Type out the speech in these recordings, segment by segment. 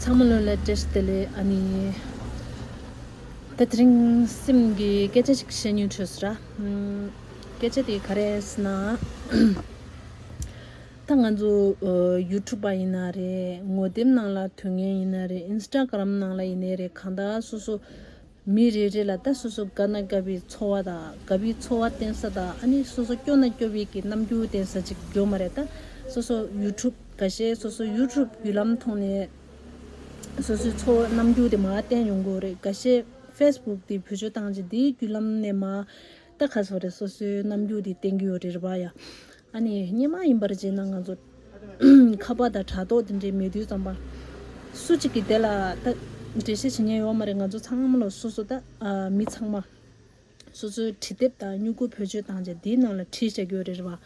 ཚང་མ་ལོན་ལ་བྲེལ་དེ་ལས་ཨ་ནི། ད་རིང་སེམས་ཀྱི་སྐད་ཆ་ཞིག་བཤད་ཉོན་ཆོས་ར། སྐད་ཆ་དེ་ག་རེ་ཟེར་ན། ད་ང་ཚོ་ཡུ་ཐུབ་པ་ཡིན་ན་རེད་ངོ་དེབ་ནང་ལ་ཐོན་ངེས་ཡིན་ན་རེད Instagram ནང་ལ་ཡིན་ནའི་རེད་གང་དག་སོ་སོ། མི་རེ་རེ་ལ་ད་སོ་སོ་དགའ་ན་དགའ་བའི་འཚོ་བ་དང་དགའ་བའི་འཚོ་བ་བསྟན་ས་དང་ཨ་ནི་སོ་སོ་སྐྱོ་ན་སྐྱོ་བའི་གི་རྣམ་འགྱུར་བསྟན་ས་ཅིག་ཡོད་མ་རེད་ད། སོ་སོ་ཡུ་ཐུབ་ག་ཤེད་སོ་སོ་ཡུ་ཐུབ་བརྒྱུད་ལམ་ཐོག་ནས་སོ་སོའི་འཚོ་བ་རྣམ་འགྱུར་དེ་མ་བསྟན་ཡོང་དགོས་རེད་ག་ཤེད་ཧྥེས་བུག་དེ་བོད་ཆོས་བཏང་རྗེས་དེའི་བརྒྱུད་ལམ་ནས་མ། རྟ་ཁ་སོགས་རེད་སོ་སོའི་རྣམ་འགྱུར་དེ་བསྟན་གྱི་ཡོད་རེད་རེད་པ་ཡ། ཨ་ནི་སྙན་མ་ཡིན་པར་བྱས་ན་ང་ཚོ་ཁ་བ་དང་དྲ་ཐོག་དེ་འདྲའི་མི་དུས་ཙམ་པ། སུ་གཅིག་གིས་དེ་ལ་ད་འགྲེལ་བཤད་བྱེད་ཉན་ཡོད་མ་རེད་ང་ཚོ་ཚང་མ་ལ་སོ་སོ་ད་མི་ཚང་མ། སོ་སོའི་བྲིས་དེབ་དང་སྨྱུ་གུ་བེད་སྤྱོད་བཏང་རྗེས་དེའི་ནང་ལ་བྲིས་བྱ་རྒྱུ་ཡོད་རེད་རེད་པ།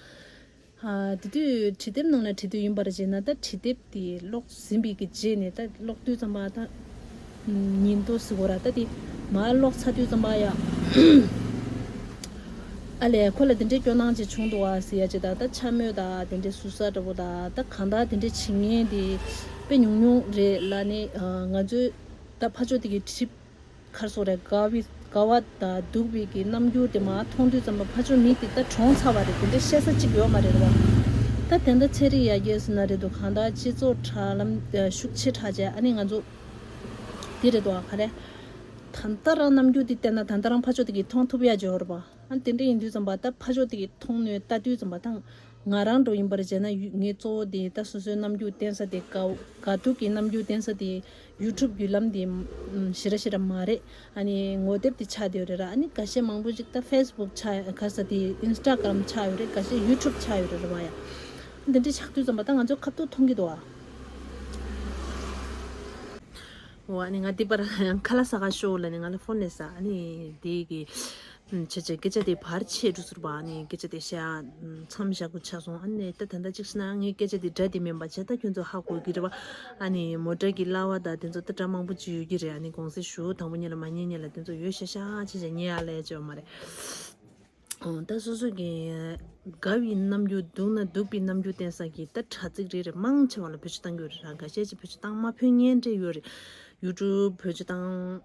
དེ་དུས་བྲིས་དེབ་ནང་ལ་བྲིས་དུས་ཡིན་པར་བརྗེད་ན་ད་བྲིས་དེབ་དེ་ཀློག་ཟིན་པའི་གི་རྗེས་ནས་ད་ཀློག་དུས་ཙམ་པ་ད་ཉིན་ཏོ་ཟི་གོ་ར་ད་དེ་མ་ཀློག་ཚར་དུས་ཙམ་པ་ཡ། ཨ་ལས་ཁོ་ལ་དེ་འདྲའི་སྐྱོ་སྣང་ཅིག་བྱུང་འདུག་བ་ཟི་ཡ་ཅེ་ད་ད་འཕྱ་སྨོད་ད་དེ་འདྲའི་ཟུར་ཟ་འདྲ་བོ་ད་ད་གང་དག་དེ་འདྲའི་བྱེད་ངན་དེ་དཔེ་ཉུང་ཉུང་རེད་ལ་ནི་ང་ཚོའི་ད་ཕ་ཆོ་དེ་གི་བྲིས་མཁར་སོགས་རེད། དགའ་བའི་དགའ་བ་དང་སྡུག་བའི་གི་རྣམ་འགྱུར་དེ་མ་མཐོང་དུས་ཙམ་ལ་ཕ་ཆོས་མི་དེ་ལྟར་གྲོངས་ཚར་བ་རེད་དེ་འདྲའི་བཤད་ས་གཅིག་ཡོད་མ་རེད་བ། ད་དེ་འདྲ་ཚན་རིག་ཡར་རྒྱས་སུ་ན་རེད་དོ་གང་ལྟར་སྤྱི་ཚོགས་དྲ་ལམ་ཤུགས་ཆེ་དྲག་ཆེ་ཨ་ནི་ང་ཚོ་དེ་རེད་དོ་ག་རེད། ད་ལྟ་རང་རྣམ་འགྱུར་དེ་བལྟས་ན་ད་ལྟ་རང་ཕ་ཆོས་དེ་གི་མཐོང་ཐུབ་ཡ་འཇོར་བ། ཨ་དེ་འདྲ་ཡིན་དུས་ཙམ་པ་ད་ཕ་ཆོས་དེ་གི་མཐོང་ནུས་ལྟ་དུས་ཙམ་པ་ད་ང་རང་འགྲོ་ཡིན་པར་བྱས་ན་ངས་གཙོ་བོ་དེ་ད་སོ་སོའི་རྣམ་འགྱུར་བསྟན་ས་དེ་དགའ་སྡུག་གི་རྣམ་འགྱུར་བསྟན་ས་དེ YouTube བརྒྱུད་ལམ་དེ་ཞེ་ར་ཞེ་ར་མ་རེད་ཨ་ནི་ངོ་དེབ་དེ་ཆགས་ཡོད་རེད་ར་ཨ་ནི་ག་ཤེད་མང་པོ་ཞིག་ད Facebook ཆགས་ག་ས་དེ Instagram ཆགས་ཡོད་རེད་ག་ཤེད YouTube ཆགས་ཡོད་རེད་ར་བ་ཡ། དེ་འདྲའི་ཆགས་དུས་ཙམ་པ་ད་ང་ཚོའི་ཁ་ཐུག་མཐོང་གི་འདུག་ཨ། འོ་ཨ་ནི་ང་འདི་པར་ཁ་ལ་ས་ག་ཤོག་ལ་ནི་ང་ལ Phone ལས་ས་ཨ་ནི་དེ་གི་ཁྱེད་ཀྱིས་སྐད་ཆ་དེ་བར་ཆད་འགྲོ་ཟེར་བ་ནས་སྐད་ཆ་དེ་བཤད་མཚམས་བཞག་དགོས་ཆགས་སོང་ཨ་ནས་ད་ད་ལྟ་ཅིག་ཤི་ན་ངའི་སྐད་ཆ་དེ་སྒྲ་དེ་མིན་པ་བྱས་ད་ཁྱོད་ཚོ་ཧ་གོ་གི་རེད་བ། ཨ་ནས་མོ་སྒྲ་གི་གླ་བ་དང་དེ་ཚོ་ད་སྒྲ་མང་པོ་བྱེད་ཡོད་ཀྱི་རེད་ཨ་ནས་དགོངས་སེལ་ཞུ་དང་པོ་གཉིས་ལ་མ་ཉེས་ཉེས་ལ་དེ་ཚོ་ཡོད་ཤག་ཤག་ཁྱེད་ཀྱིས་ཉེས་ཨ་ལས་བྱས་བ་མ་རེད། ཨོང་ད་སོ་སོ་གི་དགའ་བའི་རྣམ་འགྱུར་སྡུག་ན་སྡུག་པའི་རྣམ་འགྱུར་བསྟན་ས་གི་ད་དྲ་ཚིག་རེ་རེ་མང་ཆེ་བ་ལ་བོད་ཆུ་བཏང་རྒྱུ་རེད་ར་འགའ་ཤས་ཀྱིས་བོད་ཆུ་བཏང་མ་ཕོད་ཉན་འདྲེ་ཡོད་རེད་ཡུ་ཀྲུབ་བོད་ཆུ་བཏང།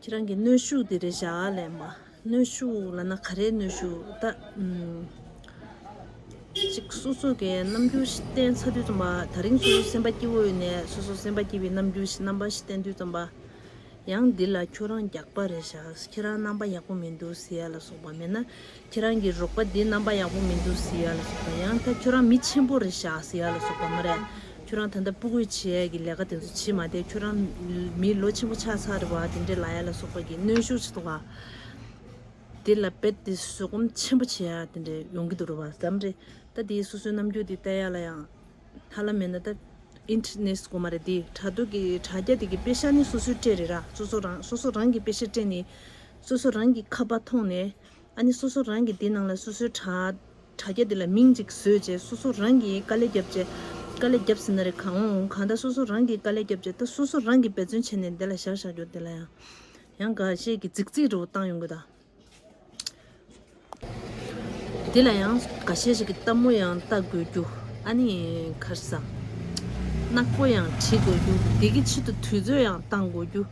ཁྱེད་རང་གི་གནོད་ཤུགས་དེ་རེད་བཞག་ལས་མ་གནོད་ཤུགས་ལ་ན་ག་རེ་གནོད་ཤུགས་ད་ཅིག་སོ་སོ་གའི་རྣམ་འགྱུར་ཞིག་བསྟན་ཚར་དུས་ཙམ་པ་ད་རིང་སོ་སོ་སེམས་པ་སྐྱིད་བོ་ཡོད་ནས་སོ་སོ་སེམས་པ་སྐྱིད་པའི་རྣམ་འགྱུར་ཞིག་རྣམ་པ་ཞིག་བསྟན་དུས་ཙམ་པ། ཡང་འདི་ལ་ཁྱོད་རང་རྒྱགས་པ་རེད་བཞག་ཁྱེད་རང་རྣམ་པ་ཡག་པོ་མི་འདུག་ཟེར་ཡ་ལ་སོགས་པ་མེད་ན་ཁྱེད་རང་གི་རོགས་པ་དེ་རྣམ་པ་ཡག་པོ་མི་འདུག་ཟེར་ཡ་ལ་སོགས་པ་ཡང་ད་ཁྱོད་རང་མི་ཆེན་པོ་རེད་ཤག་ཟེར་ཡ་ལ་སོགས་པ་མ་རེད། ཁྱོད་རང་ད་ལྟ་སྤུ་རྒོད་བྱེད་ཡ་གི་ལས་ཀ་དེ་ཚོ་བྱེད་མ་དེ་ཁྱོད་རང་མི་ལོ་ཆེན་པོ་ཆགས་ཚར་རེད་བ་དེ་འདྲས་ལ་ཡ་ལ་སོགས་པ་གི་གནོན་ཤུགས་ཆེ་ཐོག་པ་དེ་ལ་རྦད་དེ་བཟོད་སྒོམ་ཆེན་པོ་བྱེད་ཡ་དེ་འདྲས་ཡོང་གི་འདུག་རེད་བ་བསམ་རེད་ད་དེ་སོ་སོའི་རྣམ་འགྱུར་དེ་བལྟ་ཡ་ལ་ཡང་ཧ་ལམ་མེད་ན་ད Internet སྒོ་མ་རེད་དེ་དྲ་ཐོག་གི་དྲ་རྒྱ་དེ་གི་དཔེ་ཤག་ནི་སོ་སོའི་སྤྲད་རེད་ར་སོ་སོ་རང་སོ་སོ་རང་གི་དཔེ་ཤག་སྤྲད་ནས་སོ་སོ་རང་གི་ཁ་པ་མཐོང་ནས་ཨ་ནི་སོ་སོ་རང་གིས་དེའི་ནང་ལ་སོ་སོའི་དྲ་རྒྱ་དེ་ལ་མིང་ཅིག་བཟོས་རྗེས་སོ་སོ་རང་གིས་དཀའ་ལས་བརྒྱབ་རྗེས། དཀའ་ལས་བརྒྱབ་ཟིན་ན་རེ་གང་འོང་འོང་གང་ལྟར་སོ་སོ་རང་གིས་དཀའ་ལས་བརྒྱབ་རྗེས་ད་སོ་སོ་རང་གིས་འབད་བརྩོན་བྱས་ནས་དེ་ལ་བཞག་བཞག་གྱུར་དེ་ལ་ཡང་ཡང་འགའ་ཤས་ཀྱིས་རྫིག་རྫིག་རེ་བོ་བཏང་ཡོང་གི་དང། དེ་ལ་ཡང་འགའ་ཤས་ཤིག་གིས་སྟབས་མོ་ཡང་བལྟ་དགོས་རྒྱུ་ཨ་ནི་ཁར་སང་ནག་པོ་ཡང་བྲིས་དགོས་རྒྱུ་དེ་གི་ཆེད་དུ་དུས་ཚོད་ཡང་བཏང་དགོས་རྒྱུ།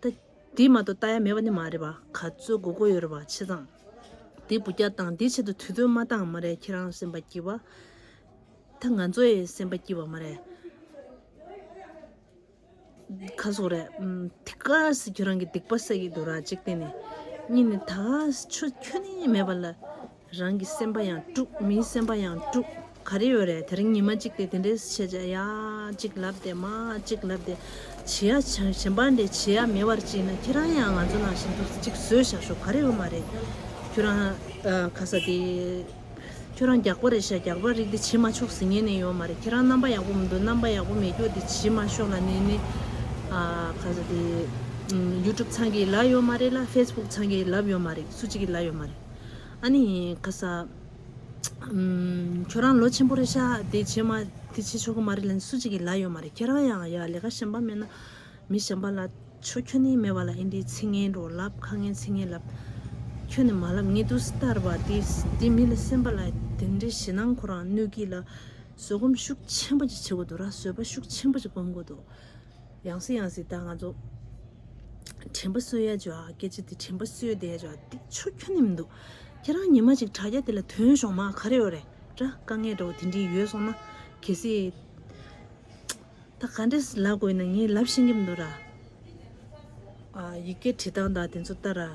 ད་དེ་མ་གཏོགས་ལྟ་ཡ་མེད་པ་ནི་མ་རེད་པ་ག་ཚོད་དགོས་དགོས་ཡོད་རེད་པ་ཆེ་ཚང། དེ་བུ་རྒྱག་སྟངས་དེ་ཆེད་དུ་དུས་ཐོན་མ་བཏང་མ་རེད་ཁྱེད་རང་སེམས་པ་སྐྱིད་པ། ད་ང་ཚོ་ཡི་སེམས་པ་སྐྱིད་པ་མ་རེད། ག་ཟོག་རེད། དེ་ག་ཟེ་ཁྱོད་རང་གི་སྡིག་པ་བསགས་ཀྱི་འདུག་ར་གཅིག་བལྟས་ནས། གཉིས་ནས་ད་ག་ཟེ་ཆོས་ཁྱོད་ནི་མེད་པ་ལ། རང་གི་སེམས་པ་ཡང་དཀྲུག་མིའི་སེམས་པ་ཡང་དཀྲུག་ག་རེ་ཡོད་རེད་དེ་རིང་ཉི་མ་གཅིག་དེ་དེ་འདྲའི་བྱས་བྱས་ཡ་གཅིག་ལབ་སྟེ་མ་གཅིག་ལབ་སྟེ་བྱས་ཡ་གཞན་པ་འདྲའི་བྱས་ཡ་མེད་པར་ཅིས་ན་ཁྱེད་རང་ཡང་ང་ཚོ་ནང་བཞིན་དུ་གཅིག་བཟོས་བཞག་ཤོག་ག་རེ་ཡོད་མ་རེད། ཁྱོད་རང་ག་ས་དེ། ཁྱོད་རང་རྒྱག་པ་རེད་ཤག་རྒྱག་པ་རིགས་དེ་བྱེད་མ་ཆོག་ཟིན་ངེས་ནས་ཡོད་མ་རེད་ཁྱེད་རང་རྣམ་པ་ཡག་པོ་མི་འདུག་རྣམ་པ་ཡག་པོ་མེད་སྐྱོ་དེ་བྱེད་མ་ཤོག་ལ་ནས་ནས། ག་ས་དེ། YouTube ཚང་གི་ལབ་ཡོད་མ་རེད་ལ Facebook ཚང་གི་ལབ་ཡོད་མ་རེད་སུ་གཅིག་གི་ལབ་ཡོད་མ་རེད། ཨཱ་ནི། ཁ་ས། ཁྱོད་རང་ལོ་ཆེན་པོ་རེད་ཤག་དེ་བྱེད་མ་དེ་བྱེད་ཆོག་གི་མ་རེད་ལན་སུ་གཅིག་གིས་ལ་ཡོད་མ་རེད་ཁྱེད་རང་ཡང་ཡ་ལས་ཀ་གཞན་པ་མེད་ན་མི་གཞན་པ་ལ་ཆོ་ཁྱོད་ནི་མེད་པ་ལ་ཨིན་དྲིའི་ཚིག་ངན་རོ་ལབ་ཁ་ངན་ཚིག་ངན་ལབ། ཁྱོད་ནི་མ་ལབ་ངེད་དུ་སྟར་བ་དེ་དེ་མི་ལ་སེམས་པ་ལ་དེ་འདྲའི་ཞེ་སྣང་ཁོ་རང་གནོད་ཀི་ལ་བཟོད་སྒོམ་ཤུགས་ཆེན་པོ་ཅིག་བྱེད་དགོས་འདུག་ར་བཟོད་པ་ཤུགས་ཆེན་པོ་ཅིག་སྒོམ་དགོས་འདུག། ཡང་སྲིད་ཡང་སྲིད་ད་ང་ཚོ་དྲན་པ་གསོས་ཡ་ཇོ་སྐད་ཆ་དེ་དྲན་པ་གསོས་བསྡད་ཇོ་དེ་ཆུ་ཁྱོད་ནི་མི་འདུག་ཁྱེད་རང་ཉི་མ་ཅིག་དྲ་རྒྱ་དེ་ལ་དོན་ཞོག་མ་ག་རེ་ཡོད་རེད་དྲ་དཀའ་ངལ་འདྲ་བོ་དེ་འདྲི་ཡོད་སོང་ན་གལ་སྲིད་ད་ག་འདྲི་ལབ་དགོས་ཡིན་ན་ངས་ལབ་ཤེས་ཀྱི་མི་འདུག་ར། ཡི་གེ་བྲི་སྟངས་དང་དེ་ཚོ་ལྟར་ར།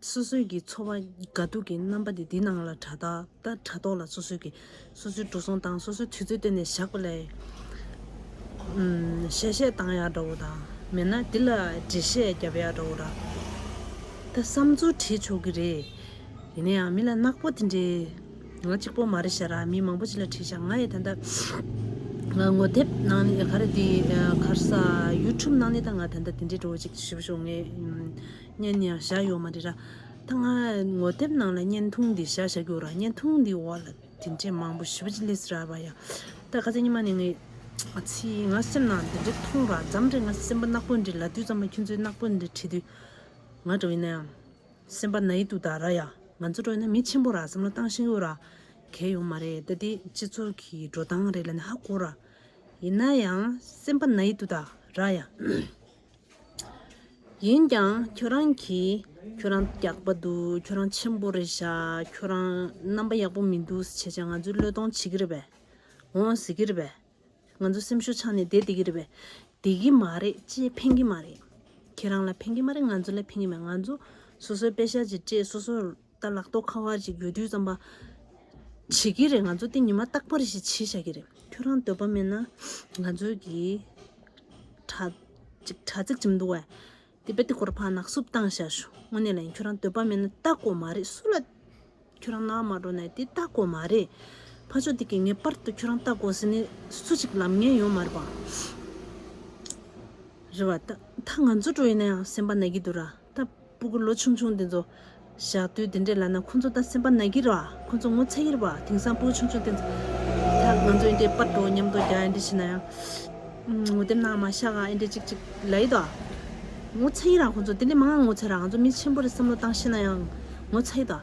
སོ་སོའི་གི་འཚོ་བ་དགའ་སྡུག་གི་རྣམ་པ་དེ་འདི་སྣང་ལ་དྲ་ཐོག་ལ་སོ་སོའི་གི་སོ་སོའི་འགྲོ་སོང་དང་སོ་སོའི་དུས་ཚོད་བསྟན་ནས་བཞག་པ་ལས། གཞལ་བཤད་བཏང་ཡག་འདྲ་བོ་དང་མེད་ན་འདི་ལ་འགྲེལ་བཤད་བརྒྱབ་ཡག་འདྲ་བོ་ར། ད་བསམ་ཚུལ་དྲིས་ཆོག་གི་རེད། ཡིན་ན་ཡང་མི་ལ་ནག་པོ་དེ་འདྲའི་ང་གཅིག་པོ་མ་རེད་བཤད་ར་མི་མང་པོ་ཅིག་ལ་དྲིས་བཞག་ང་ཡི་ད་ལྟ་ང་ངོ་དེབ་ནང་ནས་ག་རེ་འདི་གར་ས YouTube ནང་ནས་ད་ང་ད་ལྟ་དེ་འདྲའི་འགྲོ་བ་ཅིག་ཞུ་བ་ཞུ་ངེས། བརྙན་ནི་ཡང་བཞག་ཡོད་མ་རེད་ར། ད་ང་ངོ་དེབ་ནང་ལ་བརྙན་ཐུང་འདི་བཞག་བཞག་གྱུར་ར་བརྙན་ཐུང་འདི་འོག་ལ་དེ་འདྲའི་མང་པོ་ཞིབ་ཅིག་ལིས་ར་བ་ཡ། ད་ག་ཚད་ཉི་མ་ནས་ངས་ཚིག་ང་སེམས་ནང་དེ་འདྲའི་ཐུང་ར་འཇམ་རེད་ང་སེམས་པ་ནག་པོ་འདྲའི་ལ་དུས་ཙམ་ལ་ཁྱོད་ཚོའི་ནག་པོ་འདྲའི་ཁྲིད་དུས། ང་འགྲོ་ཡིན་ན་ཡང། སེམས་པ་ན་ཡིད་དུ་དར་ར་ཡ། ང་ཚོ་འགྲོ་ཡིན་ན་མི་ཆེན་པོ་ར་བསམ་བློ་བཏང་ཤེས་གྱུར་ར། གལ་ཡོང་མ་རེད་ད་དེ་སྤྱི་ཚོགས་ཀྱི་འགྲོ་སྟངས་རེད་ལ་ནི་ཧ་གོ་ར། ཡིན་ན་ཡང་སེམས་པ་ན་ཡིད་དུ་དར་ར་ཡ། ཡིན་ཀྱང་ཁྱོད་རང་གིས་ཁྱོད་རང་རྒྱགས་པ་འདུག་ཁྱོད་རང་ཆེན་པོ་རེད་ཤག་ཁྱོད་རང་རྣམ་པ་ཡག་པོ་མི་འདུག་བྱས་བྱས་ང་ཚོའི་བློས་གཏོང་བྱེད་ཀྱི་རེད་པས། འོང་ཟེར་གྱི་རེད་པས། ང་ཚོའི་སེམས་ཤུགས་ཆག་ནས་བསྡད་བསྡད་ཀྱི་རེད་པས། བསྡད་ཀྱི་མ་རེད་ཅེས་ཕན་གྱི་མ་རེད། ཁྱེད་རང་ལ་ཕན་གྱི་མ་རེད་ང་ཚོ་ལ་ཕན་གྱི་མ་རེད་ང་ཚོ་སོ་སོའི་དཔེ་ཤག་གཅིག་སྤྲད་སོ་སོ། ད་ལག་རྟོགས་ཁ་བ་ཅིག་ཡོད་དུས་བརྩམས་པ། བྱེད་ཀྱི་རེད་ང་ཚོ་དེ་ཉི་མ་རྟག་པར་ཞིག་བྱེད་བཞག་གི་རེད་ཁྱོད་རང་འདོད་པ་མེད་ན་ང་ཚོའི་གི། དྲ། ཅིག་དྲ་ཚིགས་ཅིག་འདུག་བས། དེ་པད་དེ་སྐོར་ཕར་ནག་བསུབ་བཏང་བཞག་ཞུ་དངོས་གནས་ལ་ཡིན་ཁྱོད་རང་འདོད་པ་མེད་ན་ལྟ་དགོས་མ་རེད་སུ་ལ། ཁྱོད་རང་ནག་མ་འགྲོ་ནས་དེ་ལྟ་དགོས་མ་རེད། ཕ་ཕྱོགས་དེ་གི་ངེས་པར་དུ་ཁྱོད་རང་ལྟ་དགོས་ཟེར་ནི་སུ་ཅིག་ལབ་ངེས་ཡོད་མ་རེད་པ། རེད་བ། ད་ད་ང་ཚོ་འགྲོ་ཡི་ན་ཡང་སེམས་པ་ན་གི་འདུག་ར། ད་སྤུ་གུ་ལོ་ཆུང་ཆུང་འདི་ཚོ། ཞག་དུས་འདི་འདྲས་ལ་ན་ཁོང་ཚོ་ད་སེམས་པ་ན་གི་རོ་ཨ། ཁོང་ཚོ་ངོ་ཚ་གི་རེད་པ་ཨ་དེང་སང་སྤུ་གུ་ཆུང་ཆུང་དེ་ཚོ། ད་ང་ཚོ་ཨིན་དྲའི་དཔར་འགྲོ་སྙམ་དོ་རྒྱ་ཨིན་དྲའི་བྱེད་ན་ཡང། ངོ་དེབ་ནང་མ་བཞག་ག་ཨིན་དྲའི་ཅིག་ཅིག་ལ་ཡིད་དོ་ཨ། ངོ་ཚ་གི་ར་ཁོང་ཚོ་དེ་ལས་མང་ང་ངོ་ཚ་ར་ང་ཚོ་མི་ཆེན་པོ་རེ་བསམ་བློ་བཏང་ཤེས་ན་ཡང། ངོ་ཚ་གི་དོ་ཨ།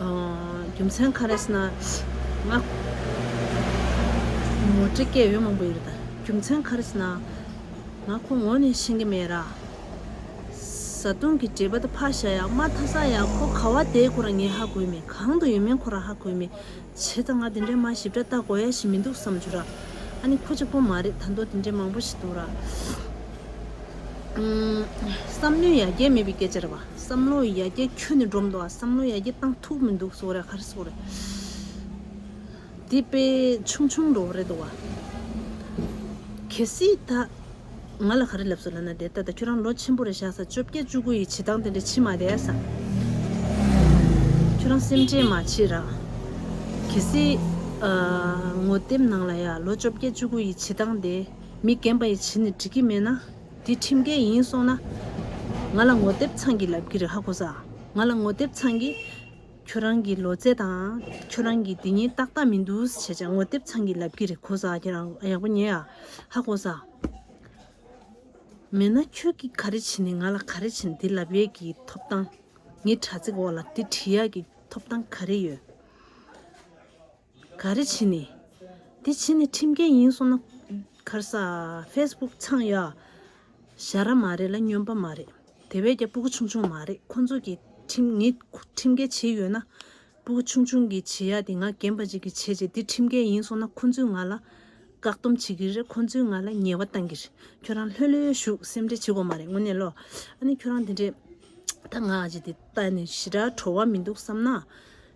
རྒྱུ་མཚན་ག་རེ་ཟེར་ན། ང་ངོ་དྲི་སྐད་ཡོད་མང་པོ་ཡོད་དང་རྒྱུ་མཚན་ག་རེ་ཟེར་ན། ང་ཁོ་ངོ་ནས་ཤེས་ཀྱི་མེད་ར། བཟའ་བཏུང་གི་འབྲེལ་བ་དུ་ཕ་ཤ་ཡག་མ་ཐ་ས་ཡག་ཁོ་ག་བ་དེ་ཁོ་རང་ཉིད་ཧ་གོའི་མེད་གང་དུ་ཡོད་མིན་ཁོ་རང་ཧ་གོའི་མེད། བྱས་ད་ང་དེ་འདྲའི་མ་ཞིབ་ཕྲ་ལྟ་དགོས་ཡ་ཞིག་མི་འདུག་བསམ་བྱུང་ར། ཨ་ནི་ཁོ་གཅིག་པོ་མ་རེད་ད་མདོ་དེ་འདྲའི་མང་པོ་ཞིག་འདུག་ར། བསམ་བློའི་ཡ་གྱལ་མེད་པའི་སྐད་ཆ་རེད་བ། བསམ་བློའི་ཡ་གྱལ་ཁྱོན་ནས་འགྲོ་མདོག་ཨ་བསམ་བློའི་ཡ་གྱལ་བཏང་ཐུག་མི་འདུག་སོགས་རེད་ཧ་རེ་སོགས་རེད། འདི་དཔེ་ཆུང་ཆུང་འགྲོ་བ་རེད་འདུག་བ། གལ་སྲིད་ད། ང་ལ་ག་རེ་ལབ་སོང་ལབ་ན་བདེ་ད་ལྟ་ཁྱོད་རང་ལོ་ཆེན་པོ་རེད་ཤག་ས་བཅོ་བརྒྱད་བཅུ་དགུ་ཡི་བྱེད་སྟངས་དེ་འདྲ་ཕྱི་མ་བསྡད་ས་ཁྱོད་རང་སེམས་ཁྲལ་མ་བྱེད་ར། གལ་སྲིད། ངོ་དེབ་ནང་ལ་ཡང་ལོ་བཅོ་བརྒྱད་བཅུ་དགུ་ཡི་བྱེད་སྟངས་དེ་མི་རྒན་པ་ཡི་བྱེད་ནི་འགྲིག་གི་མེད་ན། དེ་ཁྲིམས་འགལ་ཡིན་སོང་ན། ང་ལ་ངོ་དེབ་ཚང་གི་ལབ་གི་རེད་ཧ་གོ་ས། ང་ལ་ངོ་དེབ་ཚང་གི། ཁྱོད་རང་གི་ལོ་ཚད་དང་ཁྱོད་རང་གི་དེ་ཉིན་ཏག་ཏག་མི་འདུག་ཟེར་བྱས་ངོ་དེབ་ཚང་གི་ལབ་ཀྱི་རེད་གོ་ས་ཁྱེད་རང་ཡག་པོ་ཉོས་ཡ་ཧ་གོ་ས། མེད་ན་ཁྱོད་ཀྱིས་ག་རེ་བྱེད་ནི་ང་ལ་ག་རེ་བྱེད་འདི་ལབ་ཡས་ཀྱི་ཐོབ་ཐང་ངའི་དྲ་ཚིགས་འོག་ལ་དེ་བྲིས་ཡག་གི་ཐོབ་ཐང་ག་རེ་ཡོད། ག་རེ་བྱེད་ནི། དེ་བྱེད་ནི་ཁྲིམས་འགལ་ཡིན་སོང་ན། ཁར་ས། Facebook ཚང་ཡ། ཞྭ་ར་མ་རེད་ལ་སྨྱོན་པ་མ་རེད། དེ་བས་ཀྱང་སྤུ་གུ་ཆུང་ཆུང་མ་རེད་ཁོང་ཚོ་གི། ཁྲིམས་ངས་ཁྲིམས་འགལ་བྱེད་ཡོད་ན། སྤུ་གུ་ཆུང་ཆུང་གི་བྱེད་ཡ་དེ་ང་རྒན་པ་ཅིག་གི་བྱེད་བྱེད་དེ་ཁྲིམས་འགལ་ཡིན་སོང་ན་ཁོང་ཚོས་ང་ལ། བཀག་སྡོམ་བྱེད་ཀྱི་རེད་ཁོང་ཚོས་ང་ལ་ཉེས་བ་བཏང་གི་རེད་ཁྱོད་རང་ལྷོད་ལྷོད་བཞུགས་སེམས་ཁྲལ་བྱེད་དགོས་མ་རེད་དངོས་གནས་ལོ། ཨ་ནི་ཁྱོད་རང་དེ་འདྲས། ད་ང་ཅིག་དེ་ལྟ་ནས་ཞི་དྲག་བྲོ་བ་མི་འདུག་བསམ་ན།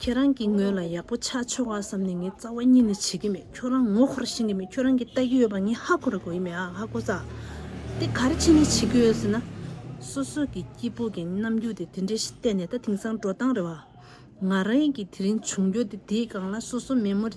ཁྱེད་རང་གིས་ངོས་ལ་ཡག་པོ་ཆགས་ཆོག་ཨ་བསམ་ནས་ངའི་རྩ་བ་གཉིད་ནས་བྱེད་ཀྱི་མེད་ཁྱོད་རང་ངོ་ཁོར་ཤེས་ཀྱི་མེད་ཁྱོད་རང་གི་ལྟ་གི་ཡོད་པ་ངས་ཧ་གོ་ར་གོ་ཡི་མེད་ཨ་ཧ་གོ་ས་དེ་ག་རེ་བྱས་ནས་བྱེད་ཀྱི་ཡོད་ཟེར་ན། སོ་སོ་གི་སྐྱིད་པོ་གི་རྣམ་འགྱུར་དེ་དེ་འདྲའི་ཞིག་བལྟས་ནས་ད་དེང་སང་འགྲོ་སྟངས་རེད་བ། ང་རང་གི་དེ་རིང་བྱུང་རྒྱུ་དེ་དེའི་སྒང་ལ་སོ་སོ་མེད་མོ།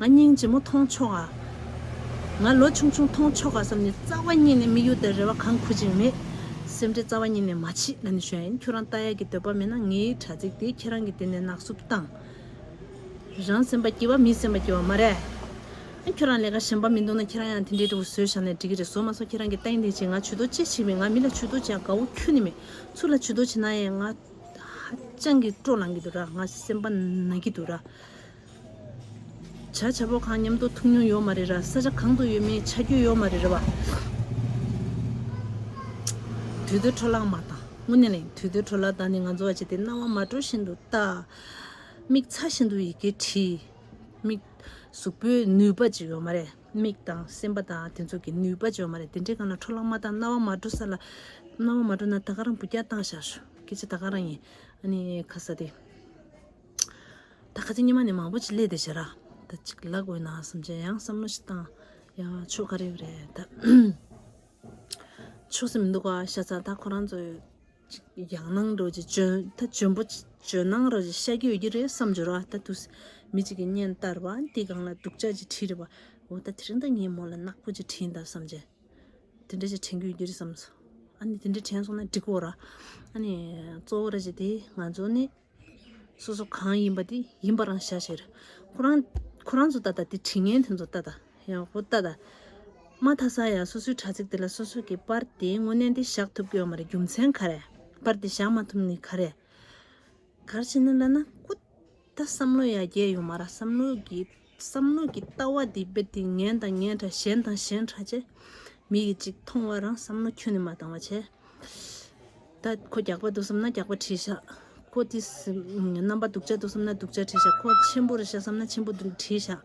ང་སྙིང་རྗེ་མོ་མཐོང་ཆོག་ཨ། ང་ལོ་ཆུང་ཆུང་མཐོང་ཆོག་ཨ་བསམ་ནས་རྩ་བ་གཉིས་ནས་མི་གཡོ་ཏེ་རེ་བ་གང་ཁུར་ཅིང་མེད། སེམས་ཁྲལ་རྩ་བ་གཉིས་ནས་མ་བྱེད་ཨ་ནི་གཞོན་ཁྱོད་རང་ལྟ་ཡག་གི་འདོད་པ་མེད་ན་ངའི་དྲ་ཚིགས་དེ་ཁྱེད་རང་གི་དེ་ནས་ནག་བསུབ་བཏང། རང་སེམས་པ་སྐྱིད་བ་མིའི་སེམས་པ་སྐྱིད་བ་མ་རེད། ཨ་ཁྱོད་རང་ལས་ཀ་གཞན་པ་མི་འདུག་ན་ཁྱེད་རང་ཡང་དེ་འདྲའི་འབྲས་བུ་ཟོས་བཞག་ནས་འགྲིག་གི་རེད་ཟོ་མ་ཟོ་ཁྱེད་རང་གི་ལྟ་ཡིན་དེ་བྱེད་ང་ཇུས་གཏོགས་ཅི་བྱེད་མི་ང་མི་ལ་ཇུས་གཏོགས་བྱས་དགའ་བོ་ཁྱོད་ནི་མེད་ཚུལ་ལ་ཇུས་གཏོགས་བྱེད་ན་ཡང་ང་ཧ་ཅང་གི་སྤྲོ་ལངས་གི་འདུག་ར་ང་སེམས་པ་ན་གི་འདུག་ར། བྱ་བྱ་བོ་གང་ཉམས་རྟོགས་ཐུབ་མྱོང་ཡོད་མ་རེད་ར་ས་ཆ་གང་དུ་ཡོད་མེད་ཆ་རྒྱུས་ཡོད་མ་རེད་ར་བ། དུད་དུད་འཕྲོ་བརླག་མ་དང་དངུལ་ནས་ལེན་དུད་དུད་འཕྲོ་བརླག་བདག་ནི་ང་ཚོ་བ་བྱས་ཏེ་རྣ་བ་མ་དྲོ་བཞིན་དུ་ལྟ། མིག་ཚ་བཞིན་དུ་ཡི་གེ་བྲིས། མིག། གཟུགས་པོའི་ནུས་པ་ཅིག་ཡོད་མ་རེད་མིག་དང་སེམས་པ་དང་དེ་ཚོ་གི་ནུས་པ་ཅིག་ཡོད་མ་རེད་དེ་འདྲའི་གང་ལ་འཕྲོ་བརླག་མ་དང་རྣ་བ་མ་དྲོ་ས་ལ། རྣ་བ་མ་དྲོ་ན་ད་ག་རང་བུ་སྐྱག་བཏང་བཞག་ཤོག་སྐད་ཆ་ད་ག་རང་ཡིན་ཨ་ནི་ཁ་ས་དེ། ད་ག་ཚོད་ཉི་མ་ནས་མང་པོ་ཅིག་ལས་དེ་བྱེད་ར་ད་ཅིག་ལ་དགོས་ན་སུམ་ཅན་ཡང་བསམ་བློ་ཞིག་བཏང་ཡང་ཆོག་ག་རེ་ཡོད་རེད་ད་ཆོག་སེ་མི་འདུག་ག་ཤ་ཚ་ད་ཁོ་རང་ཚོ་ཅིག་ཡང་གནང་རོགས་ཅིག་ཇོན་ད་ཇོན་པོ་ཅིག་ཇོན་གནང་རོགས་ཅིག་ཤ་རྒྱུས་ཡོད་ཀྱི་རེད་བསམ་བྱོས་ར་ད་དུ་མི་ཅིག་གི་སྙན་བརྟར་བ་འདི་གང་ལ་སྡུག་ཅག་ཅིག་བྲིས་རེད་བ་འོ་ད་དེ་རིང་ད་ངས་མོ་ལ་ནག་པོ་ཅིག་བྲིས་འདའ་བསམ་བྱས་དེ་འདྲ་ཅིག་དྲན་རྒྱུ་ཡོད་ཀྱི་རེད་བསམ་སོང་ཨ་ནི་དེ་འདྲ་དྲན་སོང་ན་འགྲིག་གོ་ར་ཨ་ནི་གཙོ་བོ་ར་ཅིག་དེ་ང་ཚོ་ནི་སོ་སོ་གང་ཡིན་པ་དེ་ཡིན་པར་རང་བྱ་ཕྱིར། ཁོ་རང་ཁོ་རང་ཚོ་ལྟ་སྟངས་དེ་དྲི་ངན་དེ་ཚོ་ལྟ་སྟངས་ཡང་ཁོ་ལྟ་སྟངས། མ་ཐ་ས་ཡང་སོ་སོའི་དྲ་ཚིགས་དེ་ལ་སོ་སོ་གི་པར་དེ་དངོས་གནས་འདི་བཞག་ཐུབ་ཀྱི་ཡོད་མ་རེད་རྒྱུ་མཚན་ག་རེད། པར་དེ་བཞག་མ་ཐུབ་ནི་ག་རེད། གར་བྱེད་ན་ལ་ན་ཁོ་ད་བསམ་བློ་ཡ་རྒྱས་ཡོད་མ་ར་བསམ་བློ་གི། བསམ་བློ་གྱི་ལྟ་བ་འདི་དཔེ་དེ་ངན་དང་ངན་འདྲ་གཞན་དང་གཞན་འདྲ་བྱས། མི་ཡིས་ཅིག་མཐོང་བ་རང་བསམ་བློ་ཁྱོད་ནི་མ་བཏང་བ་བྱས། ད་ཁོ་རྒྱགས་པ་འདུག་བསམ་ན་རྒྱགས་པ་བྲིས་བཞག་ཁོ་དེ་རྣམ་པ་སྡུག་ཅག་འདུག་བསམ་ན་སྡུག་ཅག་བྲིས་བཞག་ཁོ་ཆེན་པོ་རེད་བཞག་བསམ་ན་ཆེན་པོ་འདུག་བྲིས་བཞག།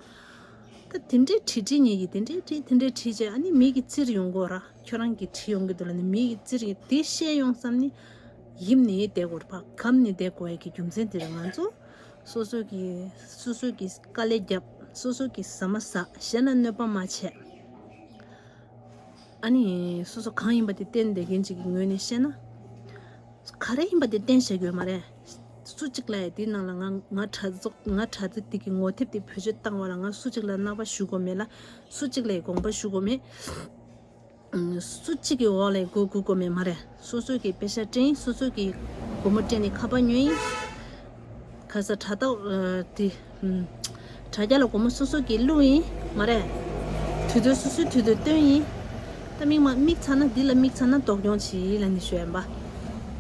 ད་དེ་འདྲས་བྲིས་བྲིས་ཉེ་གི་དེ་འདྲས་བྲིས་དེ་འདྲས་བྲིས་བྱས་ཨ་ནི་མིག་གི་རྩིར་ཡོང་གོ་ར་ཁྱོད་རང་གི་བྲིས་ཡོང་གི་འདུག་ལ་ནི་མིག་གི་རྩིར་དེ་ཤེས་ཡོང་བསམ་ནི། ཡིབ་ནི་ཡིད་བདེ་གོ་ར་ཕ་གམ་ནི་བདེ་གོ་ཡ་གི་རྒྱུ་མཚན་དེ་རེད་ང་ཚོ། སོ་སོ་གི་སོ་སོ་གི་དཀའ་ལས་རྒྱབ། སོ་སོ་གི་ཟ་མ་ཟ་གཞན་ལ་གནོད་པ་མ་བྱས། ཨཱ་ནི། སོ་སོ་གང་ཡིན་པ་དེ་བསྟེན་བསྡད་མཁན་གཅིག་གི་ངོས་ནས་བཤད་ན། ག་རེ་ཡིན་པ་དེ་བསྟེན་བཞག་གི་ཡོད་མ་རེད། སུ་གཅིག་ལ་ཡང་དེའི་ནང་ལ་ང་ང་གྲྭ་བཙུན་ང་གྲྭ་བཙུན་དེ་གི་ངོ་དེབ་དེ་བེད་སྤྱོད་བཏང་བ་ལ་ང་སུ་གཅིག་ལ་རྣ་བ་ཞུ་དགོས་མེད་ལ། སུ་གཅིག་ལ་ཡི་དགོངས་པ་ཞུ་དགོས་མེད། སུ་གཅིག་གི་འོག་ལས་སྒོ་དགུ་བསྐོ་མེད་མ་རེད་སོ་སོ་གི་དཔེ་ཆ་སྤྲིངས་སོ་སོ་གི་སྒོ་མོ་སྤྲིངས་ནས་ཁ་པར་ཉོས་ཡིན། ག་ས་དྲ་ཐོག་དེ། དྲ་རྒྱ་ལ་སྒོ་མོ་སོ་སོ་གི་བླུགས་ཡིན་མ་རེད། དུས་དུས་སོ་སོའི་དུས་དུ་བཏོན་ཡིན། ད་མིག་མ་མིག་ཚ་ན་འདི་ལ་མིག་ཚ་ན་དོགས་སྐྱོང་བྱེད་ཡིན་ལ་ནི་ཞོལ་འབའ།